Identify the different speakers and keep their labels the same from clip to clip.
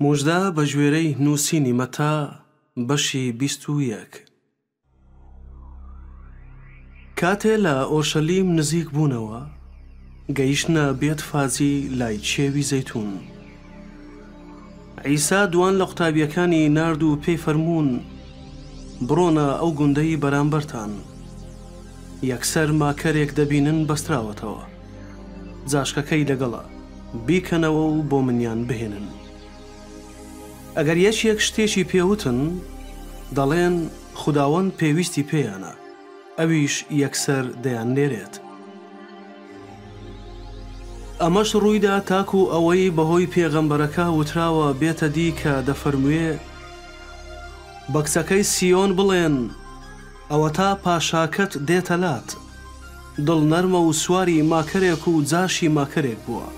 Speaker 1: موژدە بەگوێرەی نووسینی مەتا بەشی بیست و یەک. کاتێ لە ئۆرشەلیم نزیک بوونەوە گەیشتنە بێت فاجی لای کێوی زەیتون. عیسا دوان لە قوتابیەکانی نارد و پێی فەرموون بڕۆنە ئەو گوندەی بەرامبەرتان. یەکسەر ماکەرێک دەبینن بەستراوەتەوە. جاشکەکەی لەگەڵە بیکەنەوە و بۆ منیان بهێنن. ئەگەر یەکێک شتێکی پێ وتن، دەڵێن خوداوەند پێویستی پێیانە، ئەویش یەکسەر دەیاننێرێت. ئەمەش ڕوویدا تاکو ئەوەی بەهۆی پێغەمبەرەکە وتراوە بێتە دی کە دەفەرموێ، بە کچەکەی سیۆن بڵێن، ئەوەتا پاشاکەت دێتە لات. دڵ نەرمە و سواری ماکەرێک و جاشی ماکەرێک بووە.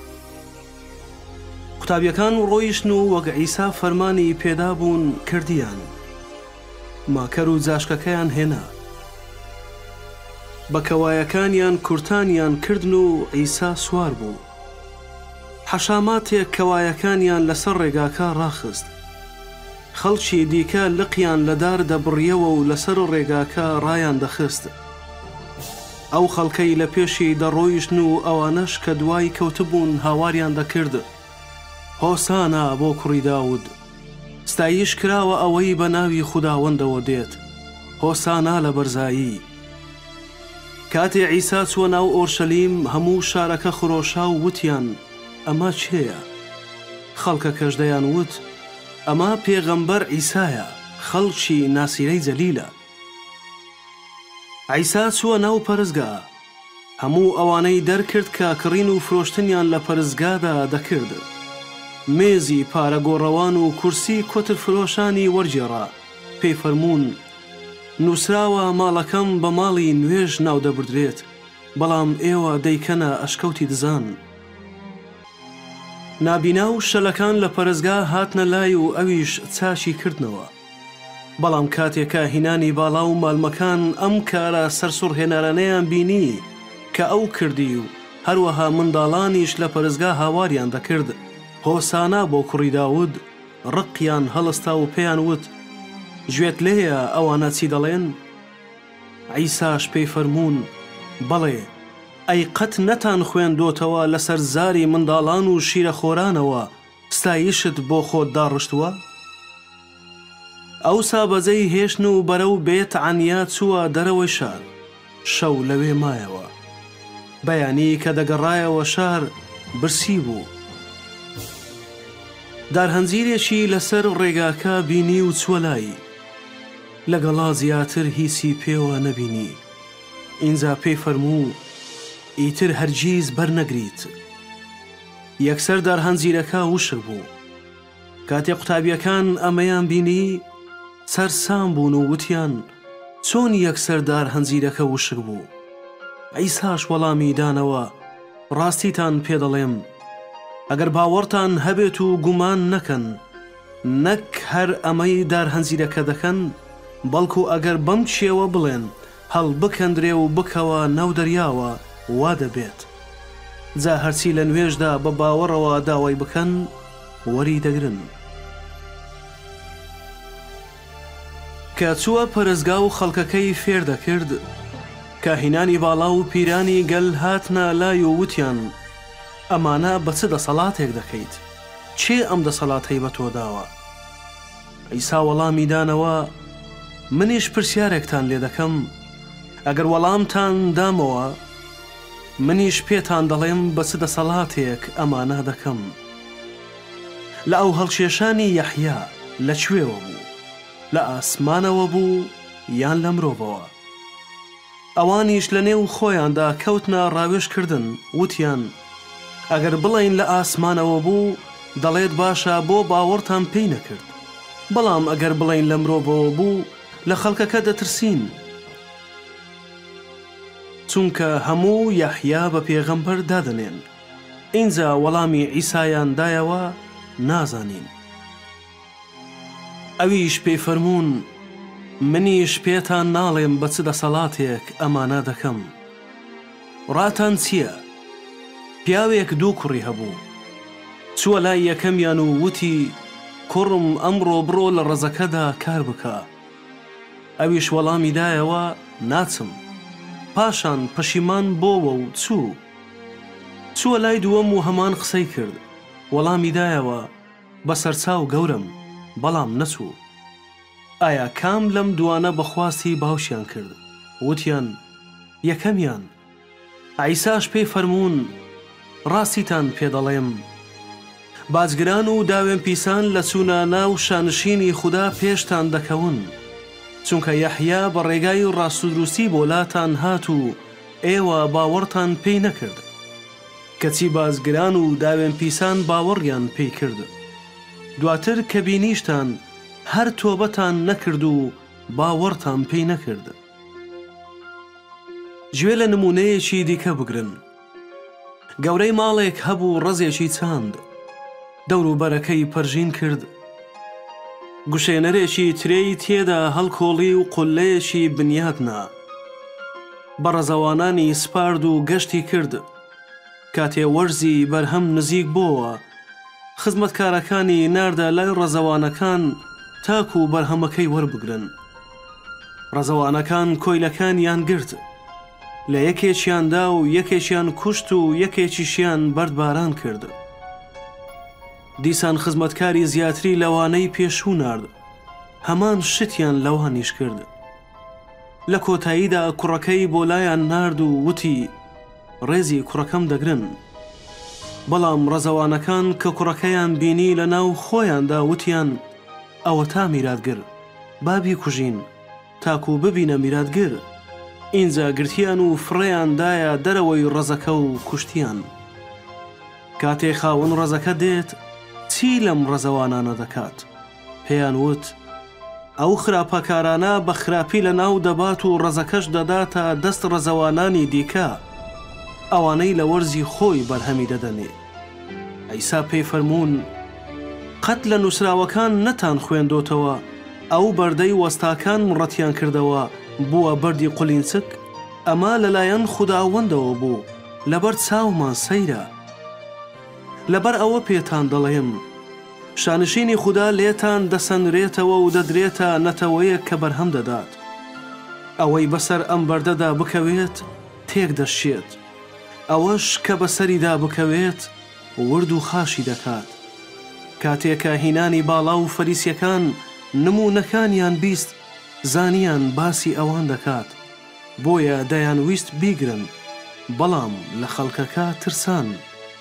Speaker 1: قوتابیەکان ڕۆیشتن و وەک عیسا فەرمانی پێدا بوون کردیان. ماکەر و جاشکەکەیان هێنا. بە کەوایەکانیان کورتانیان کردن و عیسا سوار بوو. حەشاماتێک کەوایەکانیان لەسەر ڕێگاکە ڕاخست. خەڵکی دیکە لقیان لە دار دەبڕییەوە و لەسەر ڕێگاکە ڕایاندەخست. ئەو خەڵکەی لە پێشی دەڕۆیشتن و ئەوانەش کە دوای کەوتبوون هاواریان دەکرد، هۆسانا بۆ کوڕی داود، ستایش کراوە ئەوەی بە ناوی خوداوەندەوە دێت، هۆسانا لە بەرزایی. کاتێ عیسا چووە ناو ئۆرشەلیم، هەموو شارەکە خرۆشا و وتیان، ئەمە کێیە؟ خەڵکەکەش دەیانوت، ئەمە پێغەمبەر عیسایە خەڵکی ناسیرەی جەلیلە. عیسا چووە ناو پەرستگا، هەموو ئەوانەی دەرکرد کە کڕین و فرۆشتنیان لە پەرستگادا دەکرد. مێزی پارە گۆڕەوان و کورسی کۆترفرۆشانی وەرگێڕا، پێی فەرموون، نووسراوە ماڵەکەم بە ماڵی نوێژ ناودەبردرێت، بەڵام ئێوە دەیکەنە ئەشکەوتی دزان. نابینا و شەلەکان لە پەرستگا هاتنە لای و ئەویش چاکی کردنەوە. بەڵام کاتێ کاهینانی باڵا و مالمەکان ئەم کارە سەرسوڕهێنەرانەیان بینی کە ئەو کردی و هەروەها منداڵانیش لە پەرستگا هاواریان دەکرد، هۆسانا بۆ کوڕی داود، ڕقیان هەڵستا و پێیان وت، گوێت لێیە ئەوانە چی دەڵێن؟ عیساش پێی فەرموون، بەڵێ، ئەی قەت نەتان خوێندۆتەوە لەسەر زاری منداڵان و شیرەخۆرانەوە ستایشت بۆ خۆت داڕشتووە؟ ئەوسا بەجێی هێشتن و بەرەو بێت عەنیا چووە دەرەوەی شار، شەو لەوێ مایەوە. بەیانی کە دەگەڕایەوە شار، برسی بوو. دارهەنجیرێکی لەسەر ڕێگاکە بینی و چووە لای. لەگەڵا زیاتر هیچی پێوە نەبینی ئینجا پێی فەرموو ئیتر هەرگیز بەرنەگریت یەکسەر دارهەنجیرەکە وشک بوو کاتێ قوتابیەکان ئەمەیان بینی سەرسام بوون و وتیان چۆن یەکسەر دارهەنجیرەکە وشک بوو عیساش وەڵامی دانەوە ڕاستیتان پێ دەڵێم ئەگەر باوەڕتان هەبێت و گومان نەکەن نەک هەر ئەمەی دارهەنجیرەکە دەکەن، بەڵکو ئەگەر بەم چێوە بڵێن، هەڵبکەندرێ و بکەوە ناو دەریاوە، وا دەبێت. جا هەرچی لە نوێژدا بە باوەڕەوە داوای بکەن، وەری دەگرن. کە چووە پەرستگا و خەڵکەکەی فێر دەکرد، کاهینانی باڵا و پیرانی گەل هاتنە لای و وتیان، ئەمانە بە چ دەسەڵاتێک دەکەیت؟ کێ ئەم دەسەڵاتەی بە تۆ داوە؟ عیسا وەڵامی دانەوە، منیش پرسیارێکتان لێ دەکەم، ئەگەر وەڵامتان دامەوە، منیش پێتان دەڵێم بە چ دەسەڵاتێک ئەمانە دەکەم. لە ئاوهەڵکێشانی یەحیا لە کوێوە بوو؟ لە ئاسمانەوە بوو یان لە مرۆڤەوە؟ ئەوانیش لە نێو خۆیاندا کەوتنە ڕاوێژ کردن، وتیان، ئەگەر بڵێین لە ئاسمانەوە بوو، دەڵێت باشە بۆ باوەڕتان پێی نەکرد، بەڵام ئەگەر بڵێین لە مرۆڤەوە بوو، لە خەڵکەکە دەترسین، چونکە هەموو یەحیا بە پێغەمبەر دادەنێن، ئینجا وەڵامی عیسایان دایەوە، نازانین. ئەویش پێی فەرموون، منیش پێتان ناڵێم بە چ دەسەڵاتێک ئەمانە دەکەم. ڕاتان چییە؟ پیاوێک دوو کوڕی هەبوو. چووە لای یەکەمیان و وتی، کوڕم ئەمڕۆ بڕۆ لە ڕەزەکەدا کار بکە. ئەویش وەڵامی دایەوە، ناچم. پاشان پەشیمان بۆوە و چوو. چووە لای دووەم و هەمان قسەی کرد، وەڵامی دایەوە. بەسەرچاو گەورەم بەڵام نەچوو. ئایا کام لەم دوانە بە خواستی باوکیان کرد وتیان یەکەمیان عیساش پێی فەرموون ڕاستیتان پێ دەڵێم باجگران و داوێن پیسان لە چوونە ناو شانشینی خودا پێشتان دەکەون چونکە یەحیا بە ڕێگای ڕاست و دروستی بۆ لاتان هات و ئێوە باوەڕتان پێی نەکرد کەچی بازگران و داوێن پیسان باوەڕیان پی کرد دواتر کە بینیشتان هەر تۆبەتان نەکرد و باوەڕتان پی نەکرد. گوێ لە نموونەیەکی دیکە بگرن، گەورەی ماڵێک هەبوو ڕەزێکی چاند، دەوروبەرەکەی پەرژین کرد، گوشێنەرێکی ترێی تێدا هەڵکۆڵی و قوللەیەکی بنیات نا، بەڕەزەوانانی سپارد و گەشتی کرد، کاتێ وەرزی بەرهەم نزیک بۆوە، خزمەتکارەکانی ناردە لای ڕەزەوانەکان تاکوو بەرهەمەکەی وەربگرن. ڕەزەوانەکان کۆیلەکانیان گرت، لە یەکێکیان دا و یەکێکیان کوشت و یەکێکیشیان بەردباران کرد. دیسان خزمەتکاری زیاتری لەوانەی پێشوو نارد، هەمان شتیان لەوانیش کرد. لە کۆتاییدا کوڕەکەی بۆ لایان نارد و وتی، ڕێزی کوڕەکەم دەگرن. بەڵام ڕەزەوانەکان کە کوڕەکەیان بینی لە ناو خۆیاندا وتیان، ئەوەتا میراتگر، با بیکوژین، تاکو ببینە میراتگر! ئینجا گرتیان و فڕێیان دایە دەرەوەی ڕەزەکە و کوشتیان. کاتێ خاوەن ڕەزەکە دێت، چی لەم ڕەزەوانانە دەکات؟ پێیان وت، ئەو خراپەکارانە بە خراپی لەناو دەبات و ڕەزەکەش دەداتە دەست ڕەزەوانانی دیکە، ئەوانەی لە وەرزی خۆی بەرهەمی دەدەنێ. عیسا پێی فەرموون، قەت لە نووسراوەکان نەتان خوێندۆتەوە، ئەو بەردەی وەستاکان ڕەتیان کردەوە، بووە بەردی قولینچک؟ ئەمە لەلایەن خوداوەندەوە بوو، لەبەر چاومان سەیرە. لەبەر ئەوە پێتان دەڵێم، شانشینی خودا لێتان دەسەنرێتەوە و دەدرێتە نەتەوەیەک کە بەرهەم دەدات. ئەوەی بەسەر ئەم بەردەدا بکەوێت، تێک دەشکێت. ئەوەش کە بەسەریدا بکەوێت، ورد و خاشی دەکات. کاتێ کە هینانی باڵا و فەریسیەکان نموونەکانیان بیست، زانیان باسی ئەوان دەکات، بۆیە دەیانویست بیگرن، بەڵام لە خەڵکەکە ترسان.